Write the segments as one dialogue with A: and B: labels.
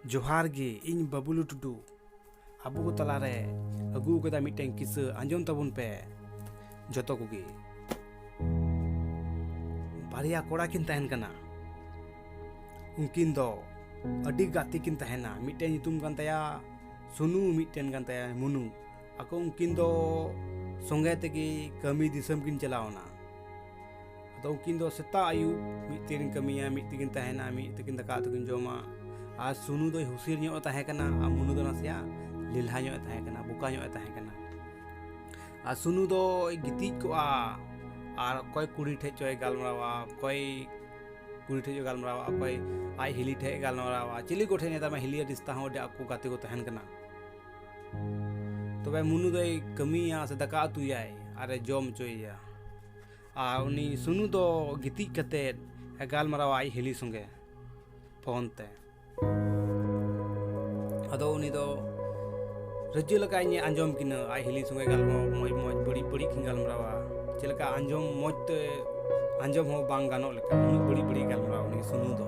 A: ᱡᱚᱦᱟᱨ ᱜᱮ ᱤᱧ ᱵᱟᱵᱩᱞᱩ ᱴᱩᱰᱩ ᱟᱵᱚ ᱠᱚ ᱛᱟᱞᱟᱨᱮ ᱟᱹᱜᱩ ᱟᱠᱟᱫᱟ ᱢᱤᱫᱴᱮᱱ ᱠᱤᱥᱟᱹ ᱟᱸᱡᱚᱢ ᱛᱟᱵᱚᱱ ᱯᱮ ᱡᱚᱛᱚ ᱠᱚᱜᱮ ᱵᱟᱨᱭᱟ ᱠᱚᱲᱟ ᱠᱤᱱ ᱛᱟᱦᱮᱱ ᱠᱟᱱᱟ ᱩᱱᱠᱤᱱ ᱫᱚ ᱟᱹᱰᱤ ᱜᱟᱛᱮ ᱠᱤᱱ ᱛᱟᱦᱮᱱᱟ ᱢᱤᱫᱴᱮᱱ ᱧᱩᱛᱩᱢ ᱠᱟᱱ ᱛᱟᱭᱟ ᱥᱩᱱᱩ ᱢᱤᱫᱴᱮᱱ ᱠᱟᱱ ᱛᱟᱭᱟ ᱢᱩᱱᱩ ᱟᱠᱚ ᱩᱱᱠᱤᱱ ᱫᱚ ᱥᱚᱸᱜᱮ ᱛᱮᱜᱮ ᱠᱟᱹᱢᱤ ᱫᱤᱥᱚᱢ ᱠᱤᱱ ᱪᱟᱞᱟᱣᱱᱟ ᱟᱫᱚ ᱩᱱᱠᱤᱱ ᱫᱚ ᱥᱮᱛᱟᱜ ᱟᱹᱭᱩᱵ ᱢᱤᱫ ᱛᱮᱠᱤᱱ ᱠᱟᱹᱢᱤᱭᱟ ᱢᱤᱫ ᱛᱮᱠᱤᱱ ᱛᱟᱦᱮᱱᱟ ᱢᱤᱫ ᱛᱮᱠᱤᱱ ᱫᱟᱠᱟ ᱩᱛᱩ ᱠᱤᱱ ᱡᱚᱢᱟ ᱟᱨ ᱥᱩᱱᱩ ᱫᱚᱭ ᱦᱩᱥᱤᱨ ᱧᱚᱜ ᱮ ᱛᱟᱦᱮᱸ ᱠᱟᱱᱟ ᱟᱨ ᱢᱩᱱᱩ ᱫᱚ ᱱᱟᱥᱮᱭᱟᱜ ᱞᱮᱞᱦᱟ ᱧᱚᱜ ᱮ ᱛᱟᱦᱮᱸ ᱠᱟᱱᱟ ᱵᱚᱠᱟ ᱧᱚᱜ ᱮ ᱛᱟᱦᱮᱸ ᱠᱟᱱᱟ ᱟᱨ ᱥᱩᱱᱩ ᱫᱚᱭ ᱜᱤᱛᱤᱡ ᱠᱚᱜᱼᱟ ᱟᱨ ᱚᱠᱚᱭ ᱠᱩᱲᱤ ᱴᱷᱮᱡ ᱪᱚᱭ ᱜᱟᱞᱢᱟᱨᱟᱣᱟ ᱚᱠᱚᱭ ᱠᱩᱲᱤ ᱴᱷᱮᱡ ᱜᱟᱞᱢᱟᱨᱟᱣᱟ ᱚᱠᱚᱭ ᱟᱡ ᱦᱤᱞᱤ ᱴᱷᱮᱡ ᱜᱟᱞᱢᱟᱨᱟᱣᱟ ᱪᱤᱞᱤ ᱠᱚᱴᱷᱮᱡ ᱱᱮᱛᱟᱨ ᱢᱟ ᱦᱤᱞᱤ ᱨᱤᱥᱛᱟ ᱦᱚᱸ ᱟᱹᱰᱤ ᱟᱠᱚ ᱜᱟᱛᱮ ᱠᱚ ᱛᱟᱦᱮᱱ ᱠᱟᱱᱟ ᱛᱚᱵᱮ ᱢᱩᱱᱩ ᱫᱚᱭ ᱠᱟᱹᱢᱤᱭᱟ ᱥᱮ ᱫᱟᱠᱟ ᱩᱛᱩᱭᱟᱭ ᱟᱨᱮ ᱡᱚᱢ ᱦᱚᱪᱚᱭᱮᱭᱟ ᱟᱨ ᱩᱱᱤ ᱥᱩᱱᱩ ᱫᱚ ᱜᱤᱛᱤᱡ ᱠᱟᱛᱮᱫ ᱮ ᱜᱟᱞᱢᱟᱨᱟᱣᱟ ᱟᱡ ᱦᱤᱞᱤ ᱥᱚᱸᱜᱮ ᱯᱷᱳᱱ ᱛᱮ ᱟᱫᱚ ᱩᱱᱤ ᱫᱚ ᱨᱟᱹᱡᱟᱹ ᱞᱮᱠᱟ ᱤᱧᱮ ᱟᱸᱡᱚᱢ ᱠᱤᱱᱟᱹ ᱟᱡ ᱦᱤᱞᱤ ᱥᱚᱸᱜᱮ ᱜᱟᱞᱢᱟᱨᱟᱣ ᱢᱚᱡᱽ ᱢᱚᱡᱽ ᱵᱟᱹᱲᱤᱡ ᱵᱟᱹᱲᱤᱡ ᱠᱤᱱ ᱜᱟᱞᱢᱟᱨᱟᱣᱟ ᱪᱮᱫ ᱞᱮᱠᱟ ᱟᱸᱡᱚᱢ ᱢᱚᱡᱽ ᱛᱮ ᱟᱸᱡᱚᱢ ᱦᱚᱸ ᱵᱟᱝ ᱜᱟᱱᱚᱜ ᱞᱮᱠᱟ ᱩᱱᱟᱹᱜ ᱵᱟᱹᱲᱤᱡ ᱵᱟᱹᱲᱤᱡ ᱜᱟᱞᱢᱟᱨᱟᱣᱟ ᱩᱱᱤ ᱥᱩᱱᱩ ᱫᱚ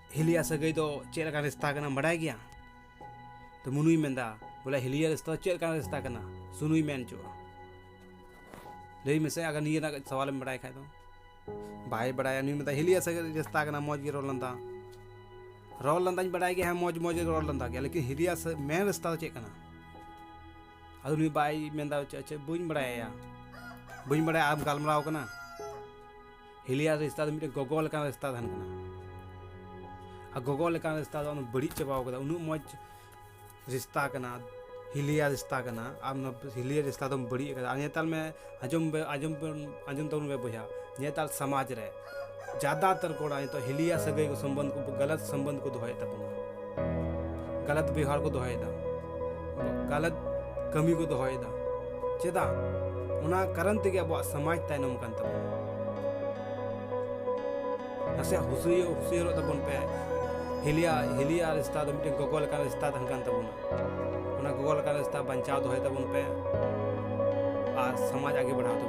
A: ᱦᱤᱞᱤᱭᱟ ᱥᱟᱹᱜᱟᱹᱭ ᱫᱚ ᱪᱮᱫ ᱞᱮᱠᱟᱱ ᱨᱤᱥᱛᱟ ᱠᱟᱱᱟ ᱵᱟᱰᱟᱭ ᱜᱮᱭᱟ ᱛᱚ ᱢᱩᱱᱩᱭ ᱢᱮᱱᱫᱟ ᱵᱚᱞᱮ ᱦᱤᱞᱤᱭᱟ ᱨᱤᱥᱛᱟ ᱪᱮᱫ ᱞᱮᱠᱟᱱ ᱨᱤᱥᱛᱟ ᱠᱟᱱᱟ ᱥᱩᱱᱩᱭ ᱢᱮᱱ ᱪᱚ ᱞᱟᱹᱭ ᱢᱮᱥᱮ ᱟᱜᱟᱨ ᱱᱤᱭᱟᱹ ᱨᱮᱱᱟᱜ ᱥᱟᱣᱟᱞᱮᱢ ᱵᱟᱰᱟᱭ ᱠᱷᱟᱡ ᱫᱚ ᱵᱟᱭ ᱵᱟᱰᱟᱭᱟ ᱱᱩᱭ ᱢᱮᱛᱟ ᱦᱤᱞᱤᱭᱟ ᱥᱟᱹᱜᱟᱹᱭ ᱨᱤᱥᱛᱟ ᱠᱟᱱᱟ ᱢᱚᱡᱽ ᱜᱮ ᱨᱚᱲ ᱞᱟᱸᱫᱟ ᱨᱚᱲ ᱞᱟᱸᱫᱟᱧ ᱵᱟᱰᱟᱭ ᱜᱮᱭᱟ ᱦᱮᱸ ᱢᱚᱡᱽ ᱢᱚᱡᱽ ᱨᱚᱲ ᱞᱟᱸᱫᱟ ᱜᱮᱭᱟ ᱞᱮᱠᱤᱱ ᱦᱤᱞᱤᱭᱟ ᱢᱮᱱ ᱨᱤᱥᱛᱟ ᱫᱚ ᱪᱮᱫ ᱠᱟᱱᱟ ᱟᱫᱚ ᱱᱩᱭ ᱵᱟᱭ ᱢᱮᱱᱫᱟ ᱪᱮᱫ ᱵᱟᱹᱧ ᱵᱟᱰᱟᱭᱟ ᱵᱟᱹᱧ ᱵᱟᱰᱟᱭᱟ ᱟᱢ ᱜᱟᱞᱢᱟᱨᱟᱣ ᱠᱟᱱᱟ ᱦᱤᱞᱤᱭᱟ ᱨᱤᱥᱛᱟ ᱫᱚ ᱢᱤᱫᱴᱮᱱ ᱜᱚᱜᱚ ᱞᱮᱠᱟᱱ ᱨᱤᱥᱛᱟ ᱛᱟᱦᱮᱱ ᱠᱟᱱᱟ ᱟᱨ ᱜᱚᱜᱚ ᱞᱮᱠᱟᱱ ᱨᱤᱥᱛᱟ ᱫᱚ ᱟᱢ ᱵᱟᱹᱲᱤᱡ ᱪᱟᱵᱟ ᱟᱠᱟᱫᱟ ᱩᱱᱟᱹᱜ ᱢᱚᱡᱽ ᱨᱤᱥᱛᱟ ᱠᱟᱱᱟ ᱦᱤᱞᱤᱭᱟ ᱨᱤᱥᱛᱟ ᱠᱟᱱᱟ ᱟᱢ ᱱᱚᱣᱟ ᱦᱤᱞᱤᱭᱟ ᱨᱤᱥᱛᱟ ᱫᱚᱢ ᱵᱟᱹᱲᱤᱡ ᱟᱠᱟᱫᱟ ᱟᱨ ᱧᱮᱛᱟᱨ ᱢᱮ ᱟᱸᱡᱚᱢ ᱵᱮᱱ ᱟᱸᱡᱚᱢ ᱵᱮᱱ ᱟᱸᱡᱚᱢ ᱛᱟᱵᱚᱱ ᱵᱮᱱ ᱵᱚᱭᱦᱟ ᱧᱮᱛᱟᱨ ᱥᱚᱢᱟᱡᱽ ᱨᱮ ᱡᱟᱫᱟᱛᱚᱨ ᱠᱚᱲᱟ ᱱᱤᱛᱚᱜ ᱦᱤᱞᱤᱭᱟ ᱥᱟᱹᱜᱟᱹᱭ ᱥᱚᱢᱵᱚᱱᱫᱷ ᱠᱚ ᱜᱟᱞᱟᱛ ᱥᱚᱢᱵᱚᱱᱫᱷ ᱠᱚ ᱫᱚᱦᱚᱭᱮᱫ ᱛᱟᱵᱚᱱᱟ ᱜᱟᱞᱟᱛ ᱵᱮᱣᱦᱟᱨ ᱠᱚ ᱫᱚᱦᱚᱭᱮᱫᱟ ᱜᱟᱞᱟᱛ ᱠᱟᱹᱢᱤ ᱠᱚ ᱫᱚᱦᱚᱭᱮᱫᱟ ᱪᱮᱫᱟᱜ ᱚᱱᱟ ᱠᱟᱨᱚᱱ ᱛᱮᱜᱮ ᱟᱵᱚᱣᱟᱜ ᱥᱚᱢᱟᱡᱽ ᱛᱟᱭᱱᱚᱢ ᱠᱟᱱ ᱛᱟᱵᱚᱱᱟ ᱱᱟᱥᱮ ᱦᱩᱥᱩᱭ ᱦᱩᱥᱩᱭᱟᱹᱨᱚᱜ ᱛᱟᱵᱚᱱ ᱯᱮ ᱦᱤᱞᱤᱭᱟ ᱦᱤᱞᱤᱭᱟ ᱨᱤᱥᱛᱟ ᱫᱚ ᱢᱤᱫᱴᱮᱱ ᱜᱚᱜᱚ ᱞᱮᱠᱟᱱ ᱨᱤᱥᱛᱟ ᱛᱟᱦᱮᱱ ᱠᱟᱱ ᱛᱟᱵᱚᱱᱟ ᱚᱱᱟ ᱜᱚᱜᱚ ᱞᱮᱠᱟᱱ ᱨᱤᱥᱛᱟ ᱵᱟᱧᱪᱟᱣ ᱫᱚᱦᱚᱭ ᱛᱟᱵᱚᱱ ᱯᱮ ᱟᱨ ᱥᱚᱢᱟᱡᱽ ᱟᱜᱮ ᱵᱟᱲᱦᱟᱣ ᱛᱟᱵᱚᱱ ᱯᱮ